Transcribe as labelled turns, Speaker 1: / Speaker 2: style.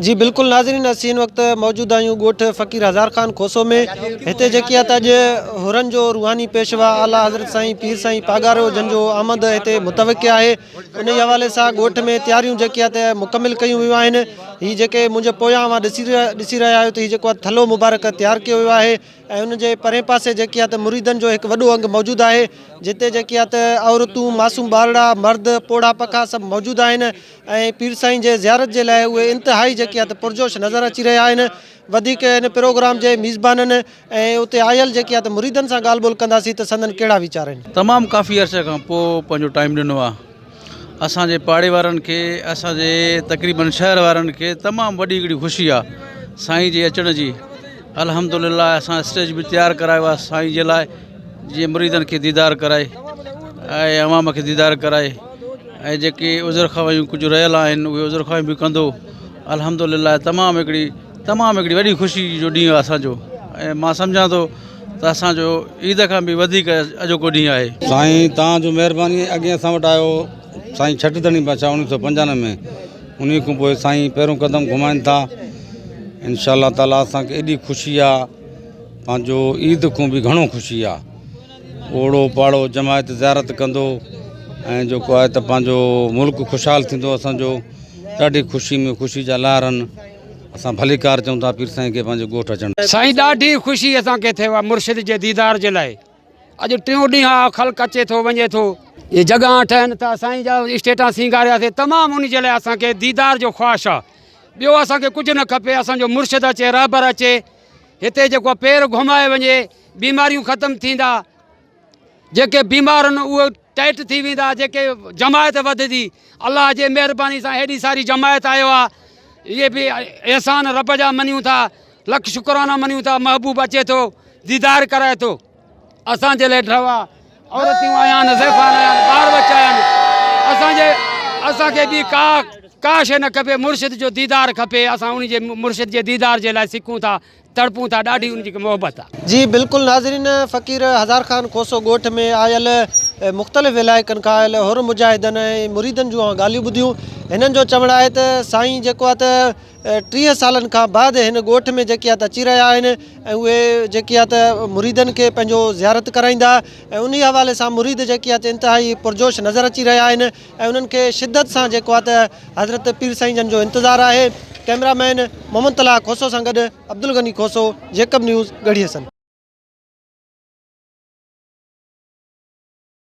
Speaker 1: جي بلڪل ناظرين اسين هن وقت موجود آهيون ڳوٺ فقير هزار خان کوسو ۾ هتي جيڪي آهي ته اڄ هرن جو روحاني پيشوا اعليٰ حضرت سائين پير سائين پاڳارو جن جو آمد هتي متوقع آهي انهي حوالي سان ڳوٺ ۾ تياريون جيڪي آهي ته مڪمل ڪيون ويون آهن هي جيڪي منهنجي پويان اوهان ڏسي ڏسي رهيا آهيو ته هي جيڪو آهي ٿلهو مبارڪ تيار ڪيو ويو آهي ۽ ان جي پرين پاسي جيڪي آهي ته مريدن جو هڪ وڏو انگ موجود آهي جتي جيڪي آهي ته عورتون معصوم ٻارڙا مرد پوڙها پکا سڀ موجود آهن ۽ پير سائين جي زيارت جي لاء اهي انتهائي جيڪي آهي ته پرجوش نظر اچي رهيا آهن وڌيڪ ان پروگرام جي ميزبانن ۽ اتي آيل جيڪي آهي ته مريدن سان ڳالهه ٻولهه ڪنداسين ته سندن ڪهڙا ويچار آهن. تمام ڪافي عرصي کان
Speaker 2: پوء پنهنجو ٽائيم ڏنو آ اسان جي پاڙي وارن کي اسان جي تقريبن شهر وارن کي تمام وڏي هڪڙي خوشي آ سائين جي اچڻ جي الحمدلله اسان اسٽيج به تيار ڪرايو آهي سائين جي لاء جيئن مريدن کي ديدار ڪرائي ۽ عوام کي ديدار ڪرائي ۽ جيڪي عذر خواهيون ڪجهه رهيل آهن اهي عذر خواهيون به ڪندو الحمدلله تمام هڪڙي تمام هڪڙي وڏي خوشي جو ڏينهن آهي اسانجو ۽ مان سمجهان ٿو ته اسانجو عيد کان به وڌيڪ اڄوڪو ڏينهن آهي سائين توهان جو
Speaker 3: مهرباني اڳي اسان وٽ آيو سائين ڇٽ ڌڻي بادشاهه اوڻيهه سو پنجانوي ۾ انهي کان پوء سائين پهريون قدم گهمائن ٿا انشاء الله تعالٰي اسان کي ايڏي خوشي آ پنهنجو عيد کان به گهڻو خوشي آ اوڙو پاڙو جماعت زيارت ڪندو ۽ جيڪو آهي ته پنهنجو ملڪ خوشحال ٿيندو اسانجو ڏاڍي خوشي ۾ خوشي جا لهر آهن اسان ڀليڪار چون ٿا پير سائين کي پنهنجي ڳوٺ اچڻ سائين ڏاڍي خوشي
Speaker 4: اسان کي ٿيو آ مرشد جي ديدار جي لاء اڄ ٽيون ڏينهن آ خلق اچي ٿو وڃي ٿو اي جڳهان ٺهن ٿا سائين جا اسٽيٽان سينگاريا سي تمام ان جي لاء اسان کي ديدار جو خواهش آ ٻيو اسان کي ڪجهه نه کپي اسان جو مرشد اچي رهبر اچي هتي جيڪو پير گهمائي وڃي بيماريون ختم ٿيندا جيڪي بيمار ان اهي ٽائيٽ ٿي ويندا جيڪي جماعت وڌدي الله جي مهرباني سان هيڏي ساري جماعت آيو آ اهي به احسان رب جا مڃون ٿا لک شڪرانا مڃون ٿا محبوب اچي ٿو ديدار ڪرائي ٿو اسان جي لاء ڍوا عورتون آيا آهن زيفان آيا آهن ٻار بچا آيا آهن اسان جي اسان کي ٻي ڪا ڪا شيء نه کپي مرشد جو ديدار کپي اسان ان جي مرشد جي ديدار جي لاء سکون ٿا تڙپون ٿا ڏاڍي ان جي کي محبت آ. جي بلڪل ناظرين
Speaker 1: فقير هزار خان کوسو ڳوٺ ۾ آيل مختلف علائقن کان آيل حر مجاهدن ۽ مريدن جون اوهان ڳالهيون ٻڌيون هنن جو چوڻ آهي ته سائين جيڪو آ ته ٽيهه سالن کان بعد هن ڳوٺ ۾ جيڪي آ ته اچي رهيا آهن ۽ اهي جيڪي آ ته مريدن کي پنهنجو زيارت ڪرائيندا ۽ انهي حوالي سان مريد جيڪي آ ته انتهائي پرجوش نظر اچي رهيا آهن ۽ انهن کي شدت سان جيڪو آ ته حضرت پير سائين جن جو انتظار آهي ڪئميرا مين محمد طلاح کوسو سان گڏ عبدالغني کوسو جيڪب نيوز ڳڙهي حسن.